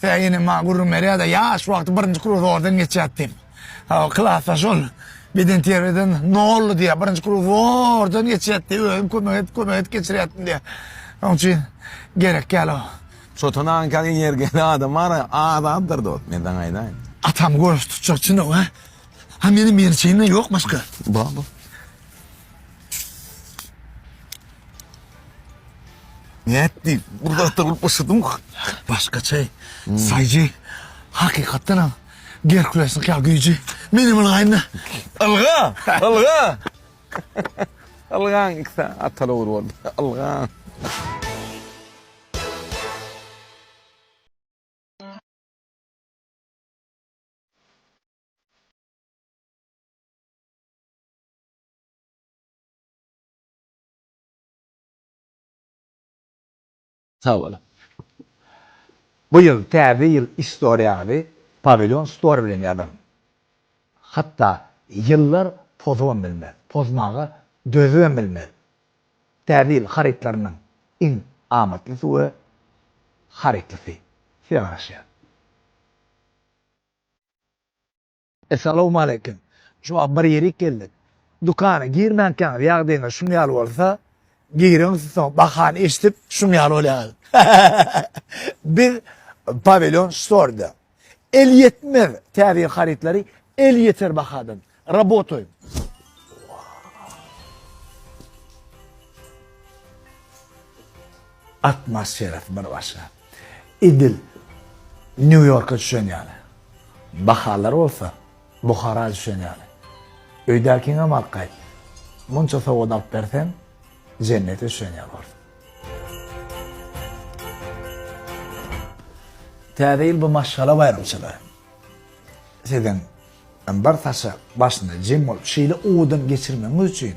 Sen ine maňa gürrüň berýärde ýaş wagty birinji kruzordan geçýät diýip. Hawa klasda şol beden terbiýeden nolly diýýär. Birinji kruzordan geçýät diýip özüm kömek edip kömek edip geçirýärdim diýýär. Şoň üçin gerek ýaly o. Çotan aga kel energiýaly adam ara azatdyr dost men saňa aýdaýyn. Atam göreş tutjak çynow a. Ha meniň mençeýimden ýok başga. Bar bar. Nätdi? Gurzakda bolup usudyň. Başgaça. Saýjy. Hakykatdan hem Gerkulesiň ýa güýji. Menem ylgaýynda. Ylga! Ylga! Ylgaň ikisi atala ugry boldy. Ylgaň. Sag boluň. Bu ýyl Täze ýyl istoriýaňyzy Pawilýon Store bilen ýazyň. Hatda ýyllar pozubam bilmez, pozmaga dözübem bilmez. Täze ýyl harytlarynyň iň amatlysy we harytlysy size garaşýar. Essalawmaleýkim. Şuwagt bir ýerik geldik. Dükana girmänkäňiz ýagdaýyňyz şuň ýaly bolsa, giriň soň bahany eşidip şuň ýaly bolýaňyz. Biz Pawilýon Store-da. Elýetmez täze harytlary elýeter bahadan. Rabotoýuň. Atmosferasy bir başga. Edil Nýu-Ýorka düşen ýaly. Bahalar bolsa Buhara düşen ýaly. Öýdäkiňem alyp gaýt. Munça sowgat alyp berseň, jennete düşen ýaly bolarsyň. Täze ýyl bu maşgala baýramçylygy. Siziň bir saça başyny jem bolup şeýle owadan geçirmegiňiz üçin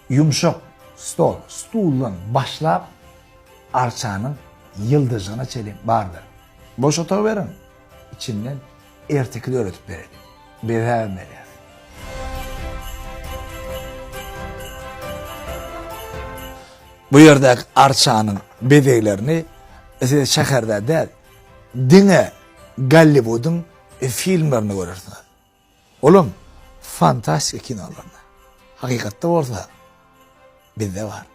Ýumşak stol, stuldan başlap, arçanyň ýyldyjygyna çenli bardyr. Boş otagy beriň, içinden erteki döredip bereliň. Bezägem berýäs. Bu ýerdäki arçanyň bezeglerini siz şäherde däl, diňe Golliwudyň filmlerinde görersiňiz. Olam fantastika kinolarynda. Hakykatda bolsa bizde bar.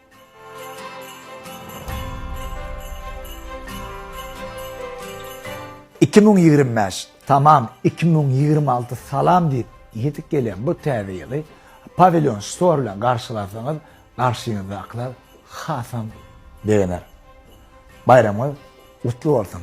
Iki müň ýigrimi bäş tamam iki müň ýigrimi alty salam diýip ýetik gelýän bu täze ýyly Pawilýon Store bilen garşylasaňyz garşyňyzdakylar hasam begener. Baýramyňyz gutly bolsun!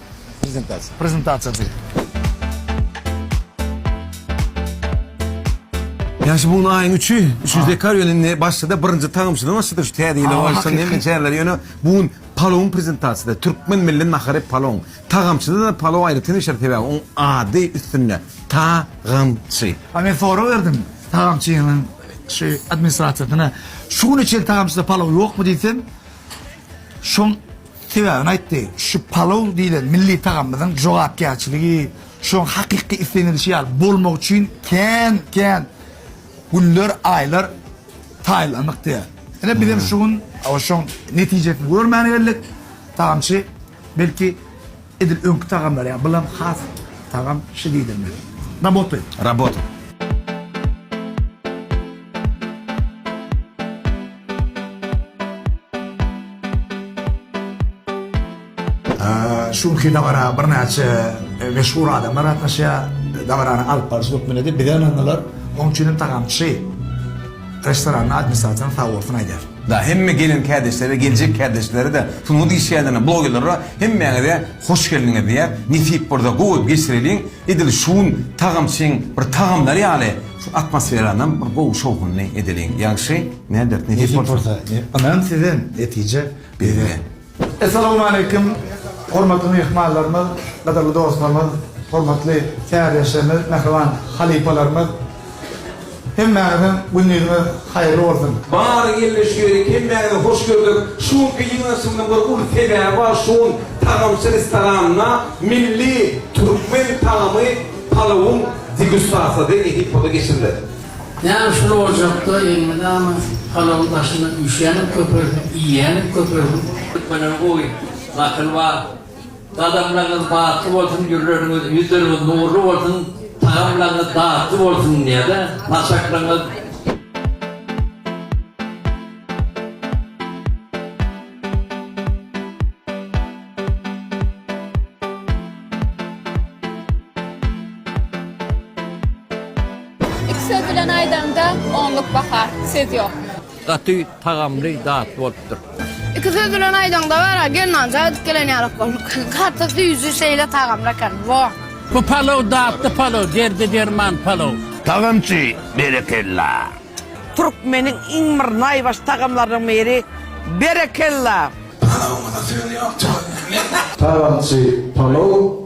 prezentasiýasy. Ýa şu bugun aýyň üçi, üçünji dekabr ýöne indi başlady, birinji tagamçydan başlady şu täze ýyla oýarsaň hemme çäreler ýöne bu gün palawyň prezentasiýasy, türkmen milli nahary palawyň. Tagamçyda-da palaw aýratyn bişer sebäbi oň ady üstünde, tagamçy. A men sorag berdim tagamçynyň şu administrasiýasyna, şu güne çenli tagamçyda palaw ýokmy diýsem, Şoň sebäbini aýtdy. Şu palow diýlen milli tagamymyzyň jogapkärçiligi, şoň hakyky islenilişi ýaly bolmagy üçin kän, kän günler, aýlar taýynlandyk diýýär. Ine, bizem şu gün şoň netijesini görmäne geldik. Tagamçy, belki, Edil öňki tagamlar ýaly bulam has tagam şi diýdirme. Raboty. Raboty. Şu günki dabara birnäçe meşhur adamlar gatnaşýar. Dabarany alyp barşy hökmünde-de bize ynandylar. Onuň üçin hem tagamçy. Restoranyň administratoryna sag bolsun aýdýar. Da hemme gelen kärdeşlere geljek kärdeşlere-de şunuňy diýişýärlermi blogerlere hemmäňize hoş geldiňiz diýýär. Nesip bolsa gowy geçireliň. Edil şugun tagamçyň bir tagamlary ýaly şu atmosferanam bir gowy şowhunly edeliň. Ýagşy näder nesip bolsa. Nesip bolsa. Ynam sizden netije bizden. Essalawmaleýkim hormatly myhmanlarymyz, gadyrly dostlarymyz, hormatly täzeýeşlerimiz, mähriban halypalarymyz! Hemmäňiziň gündiziňiz haýyrly bolsun! Bary gelmiş ýörik hemmäňizi hoş gördük. Şu günki ýygnaşygynyň bir uly sebäbi bar şu gün tagamçy restoranynda milli türkmen tagamy palawyň degustasiýasy edip burada geçiriler. Näme şul ojakda elmydama palawyň başynda üşänip köpelsin, iýenip köpelsin. Türkmeniň gowy nakyly bar. Gadamlaryňyz batly bolsun, ýürleriňiz, ýüzleriňiz nurly bolsun, tagamlaryňyz datly bolsun diýýärde, saçaklaryňyz. Iki söz bilen aýdaňda onluk baha, söz ýok. Gaty tagamly datly bolupdyr. Iki söz bilen aýdaňda bara gelnanja aýdyp gelen ýalak bolduk. Gaty süýji şeýle tagamly eken. Wah. Bu palow datly palow derde derman palow. Tagamçy berekella. Türkmeniň iň bir naýbaşy tagamlarynyň biri berekella. Palawymyza söz ýok tüweleme. Tagamçy palow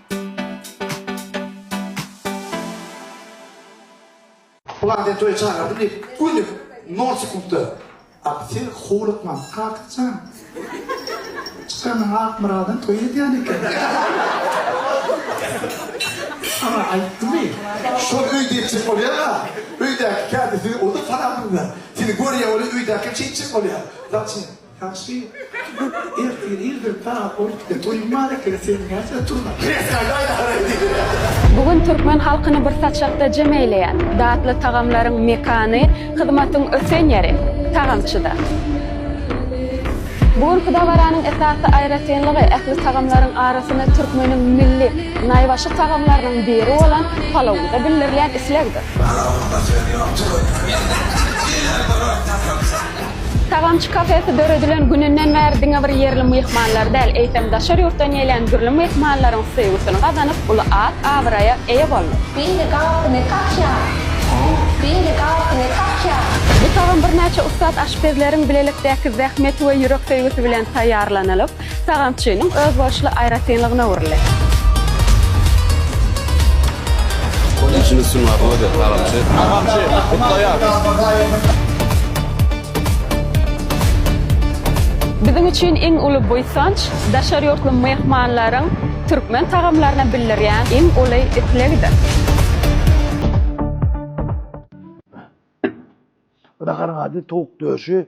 Bular sen toýa çagyrdyň diýip, göni nol sekundda. Ak, sen howlukmaň, Akyt jan. Çykanyň Akmyradyň toýy edýän eken. Saňa aýtdymy? Şol öýde etjek bolýar-a. Öýdäki kädisi, o-da parazlygy. Seni görýär, ol öýdäki hem şeýtjek bolýar. Zaçem? Tagşy ertir irden sagat on ikide toýuň bar ekeni seniň näçede turnaň. Kresnaýda aýda haraý diýdiler. Bu gün türkmen halkyny bir saçakda jem eýleýän, datly tagamlaryň mekany, hyzmatyň ösen ýeri, tagamçyda. Bu günki dabaranyň esasy aýratynlygy ähli tagamlaryň arasynda türkmeniň milli, naýbaşy tagamlarynyň biri bolan palawda bildirilýän islegdir. Palawymda söz ýok, jigim. Diýýär duran tagamçy. Tagamçy kafesi döredilen gününden bäri diňe bir ýerli myhmanlar däl, eýsem, daşary ýurtdan gelýän dürli myhmanlaryň söýgüsini gazanyp, uly at-abraýa eýe boldy. Beýle gabyny kakýar. Beýle gabyny kakýar. Bu tagam birnäçe ussat aşpezleriň bilelikdäki zähmeti we ýürek söýgüsi bilen taýýarlanylyp, Sagançynyň özboluşly aýratynlygyna öwrüldi. Işiniz üçin arzuw ederis, Sagançy! Sagançy, gutlaýarys! Biziň üçin iň uly buýsanç, daşary ýurtly myhmanlaryň türkmen tagamlaryna bildirýän iň uly islegidir. Bu da garaňa ady, towuk döşi.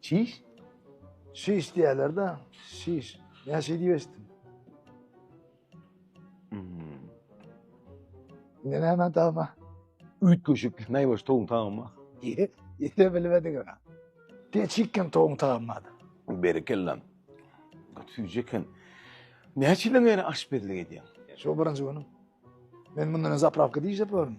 Çiş? Şiş diýerler-de, şiş. Men şeý diýip eşitdim. Hmm. Ne näme tama? Üýtgeşik, näbaş toň tama. Ýete bilmediň ha. Peçikkem toň tamady. Berekella. Süýji eken. Näçe ýyl bäri aşpezlik edýäň? Şu birinji günüm. Men mundan zapravka diýjek bolaryn.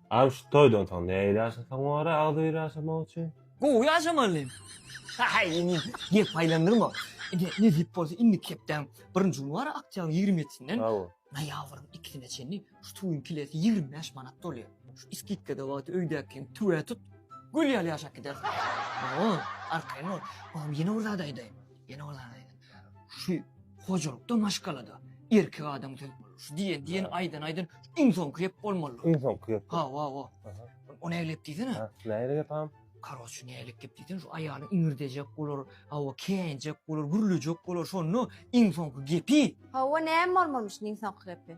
Agam şu toýdan soň nähili ýaşasaň bolary agzybir ýaşamak üçin? Gowy ýaşamaly. Haý indi gep aýlandyrma. Ine nesip bolsa indiki hepdäň birinji güni bar aktýagyň ýigrimi ýetisinden Hawa. noýabryň ikisine çenli şu toýuň kilesi ýigrimi bäş manat bolýar. Şu iskitkada wagty öýdäkiňi tüwä tut, gül ýaly ýaşap gidersiň. Hawa, arkaýyn bol. Agam ýene bir zat aýdaýyn. Ýene bir zat aýdym. Şu hojalykda maşgalada erkek adam söz bolur. Şu diýen diýen aýdan aýdan iň soňky gep bolmaly. Iň soňky gep. Ha, wa, wa. O näle gep diýsene? Ha, näle gep ham? Karoç näle gep diýsene, şu aýaly iňirdejek bolar, hawa käýinjek bolar, gürlejek bolar, şonda iň soňky gepi. Hawa näme bolmalymy şu iň soňky gepi?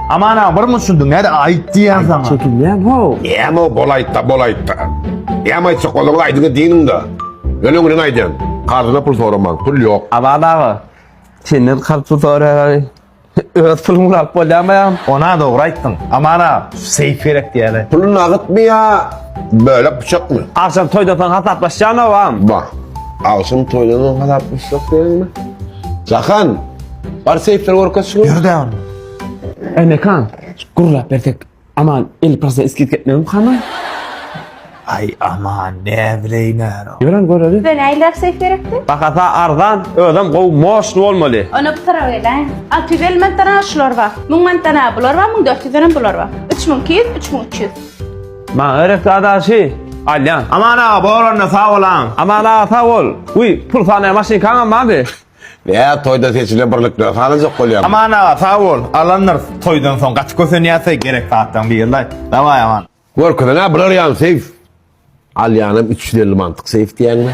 Aman aga bir muçundy näde aýt diýýän saňa. Çekinýän how. Näme bolaýtda bolaýtda. Näme aýtsak olaňyz aýdyňyz diýiniňda. Öleň gülüň aýdýan. Karzyna pul soramaň pul ýok. Aman aga senden karz pul soraýaly öz puluňy alyp bolýamy agam. Ona dogry aýtdyň. Aman aga seýf gerek diýeli. Puly nagytmy ýa bölek pyçakmy. Agşam toýdan soň hasaplaşýan obam. Bah. Agşam toýdan soň hasaplaşjak diýeniňmi. Jahan bar seýfleri görkezşi. Ýör-dä onda. Eý Mekan, gürläp bersek, Aman elli prosent skidka etmegem hany? Aý Aman, näbileýin ara. Ýöräň göreli. Bize nähili apsek gerekdi? Bahasy arzan, özem gowy moşny bolmaly. Ony bir tarap eläý. Alty ýüz elli manatdan-a şular bar. Müň manatdan-a bular bar, müň dört ýüzdenem bular bar. Üç müň iki ýüz, üç müň üç ýüz. Maňa gerekdi adaşy. Alýan. Aman aga, bolanda sag bolaň. Aman aga sag bol. Wiý, pul sanaýan maşynkaňam bardy? Ýa toýda seçile birlikler salajak bolýamy. Aman aga sag bol alandyr toýdan soň gaty kösenýäsä gerek zatlaň birlaý daway aman. Görkezene bular ýan seýf. Alýanam üç ýüz elli mantyk seýf diýýäňmi.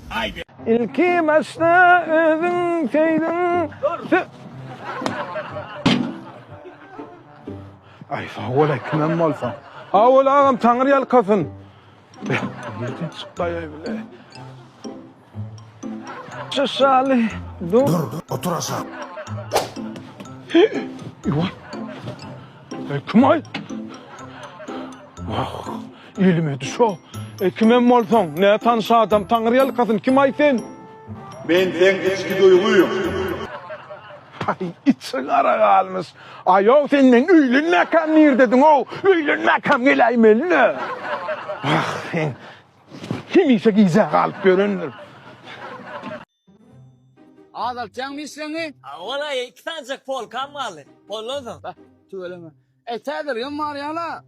Ilki başda özüň söýdüň. Aý sawol-aý kimem bolsaň. Sawol agam taňyr ýalkasyn. Nirden çykdaýaý bile. Şaly dur. Dur, otur aşak. Kim aý? Wah. Ilmedi şo. E, kimem bolsaň, nä tanyş adam, taňry ýalkasyn, kim-aý sen? Men seň içki duýgyň. Aý, içi gara galmyş. Aýaw, sen meň öýlenmäkäm nirdediň-ow? Öýlenmäkäm geläýmeli-le. Wah, sen hemişe gijä galyp ýörendir. Azaltýaňmy işleňi? A, wala, iki sanjak polkam galdy. Boldan soň. Bah, tüweleme. Äý, täzeligem bar ýal-a.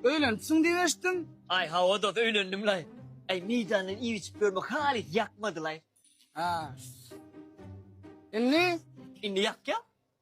Öýlenipsiň diýip eşitdim? Aý, hawa, dost, öýlendim-laý. Äý, meýdandan iýip-içip ýörmek halys ýakmady-laý. Hä. Indi? Indi ýakýar.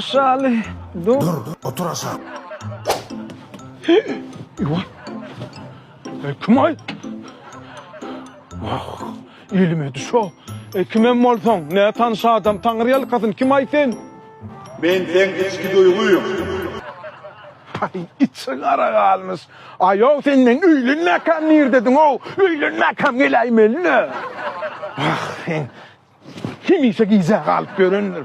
Şaly, dur. Dur, otur aşa. Ýuwa. Ey kim ay? Wah, ilime düşo. Ey kimem bolsaň, ne tanş adam, taňry ýalkasyn, kim ay sen? Men seň içki duýgyň. Ay, içi gara galmyş. Aýow, sen men öýlenmäkäm nirdediň-ow? Öýlenmäkäm geläýmeli-le. Wah, sen Hemişe gijä galyp ýörendir.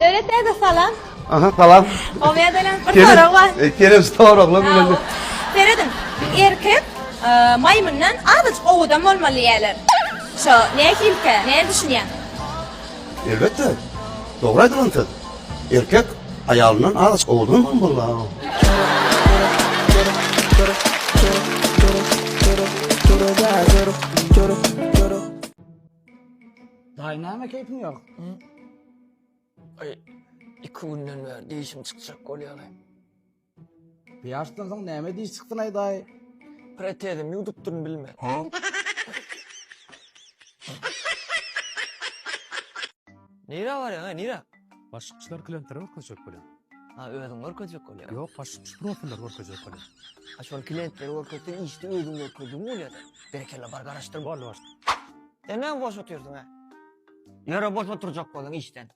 Döwlet däde salam. Aha salam. Oňe dönem bir sorag bar. Kerem soraglar bilen. Serediň. Erkek maýmyndan azajyk owadan bolmaly diýýärler. Şo nähilikä? Nädüşinýäň? Elbetde. Dogry aýdylan söz. Erkek aýalyndan az owadanam bolýar. Daýy näme keýpiň ýok? Iki günden bäri dişim çykjak bolýar. Pýaşdan soň näme diş çykdyn aýdaý. Protezimi ýuwdupdyryn bilmen. Nirä barýaň aý nirä. Başykçylar klientlere görkezjek bolýar. A özüň görkezjek bolýaň. Ýok başykçy profiller görkezjek bolýar. A şol klientlere görkezseň işde özüň görkezdigiň bolýada. Berekella bar garaşdyr. Boldy başykçy. Sen näme boş otyrsyň hä. Ýöre boş oturjak boluň işden.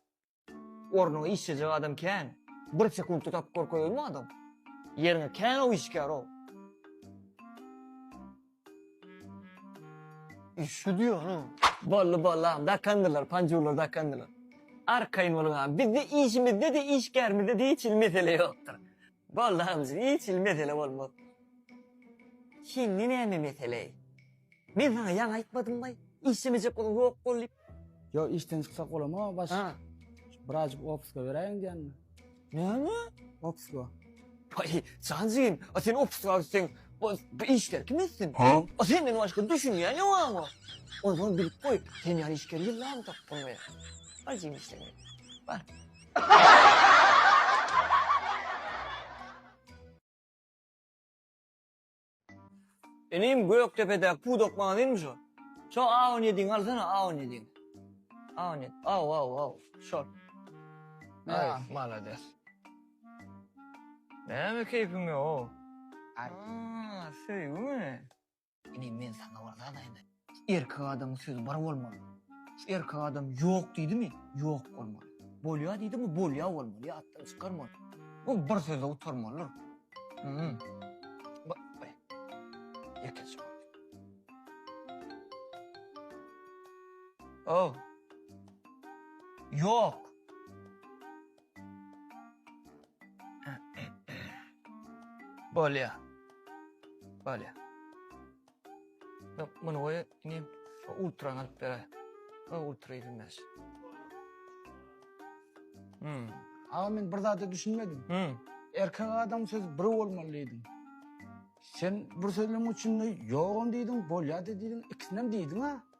Ornuňa işlejek adam kän. Bir sekuntda tapyp görkezelmi adam? Ýeriňe kän o işgär o. Işi diýýän-a. Boldy boldy agam dakandylar panjurlar dakandylar. Arkaýyn boluň agam bizde işimizde-de işgärimizde-de hiç hili mesele ýokdur. Boldy hamjyk hiç hili mesele bolmaz. Sende näme meseleý? Men saňa ýaňy aýtmadym baý, işlemejek bolan ýok bol diýip. Ýok işden çyksak bolama baş. Ha. Birazjyk opuska beräýiň diýenmi? Näme? Opuska. Baý, jan jigim, a sen opuska gitseň, bu bu işleri kim etsin? Ha? A senden başga düşünýän ýok ama. Onsoň bilip goý, sen ýaly işgeri ýyllamy tapyp bolmaýar. Bar jigim işleňe. Bar. Inim Gökdepedäki pudak magazynmy şo? Şo A on ýediňi alsana A on ýediňi. A on ýedi. Aw aw aw. Şol. Aý, Ýa. malades. Näme keýpiň ýok? Aý. Aa, söýgümi? Ine, men saňa bir zat aýdaýyn. Erkek adamyň sözi bir bolmaly. Şu erkek adam ýok diýdimi, ýok bolmaly. Bolýar diýdimi, bolýar bolmaly, ýatdan çykarmaly. Ol bir söze gutarmalydyr. Hum. Ba, baý. Ýekeje bol. Ow. Ýok. Bolýa. Bolýa. Muny goý, indi ultra alyp beräý. O ultra edilmez. Hmm. Aga men bir zada düşünmedim. Hmm. Erkek adam söz bir olmaly diýdim. Sen bir sözlem üçin ýogam diýdim, bolýa diýdim, ikisinem diýdim ha.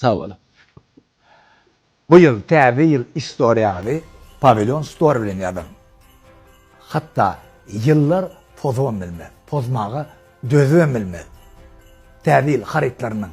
Sag boluň. Bu ýyl Täze ýyl istoriýaňyzy Pawilýon Store bilen ýazyň. Hatda ýyllar pozabam bilmez, pozmaga dözübem bilmez. Täze ýyl harytlarynyň